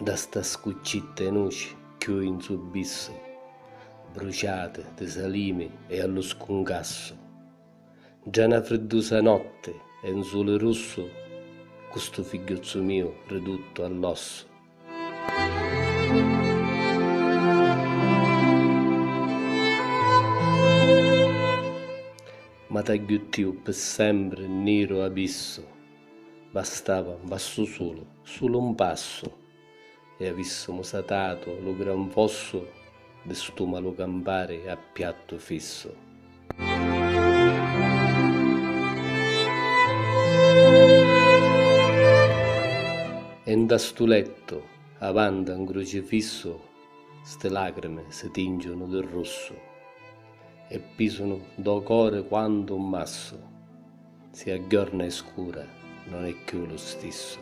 Nta sta scuccitta 'i nuci cchiù in su bissu, bruciati di salimi e a lu scuncassu, ntra na friddusa notti e 'n suli russu, cu stu figghiuzzu miu riduttu all'ossu. Ma t'agghiuttiu pi sempri n niru avissu bastava n passu sulu, sulu n passu e avissumu satatu lu gran fossu di stu malu campari a piattu fissu. E nta stu lettu, avanti a un crucifissu, sti lacrimi si tingiunu di russu e pisunu ntô cori quantu un massu. Si a jorna è scura non è chiù lu stissu.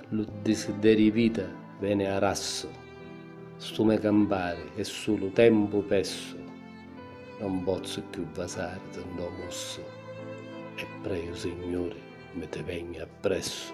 Lu disideriu 'i vita veni a rassu, stu me campari è sulu tempu pessu, non pozzu chiù vasari di ndo mussu e preju Signuri mi ti vegnu appressu.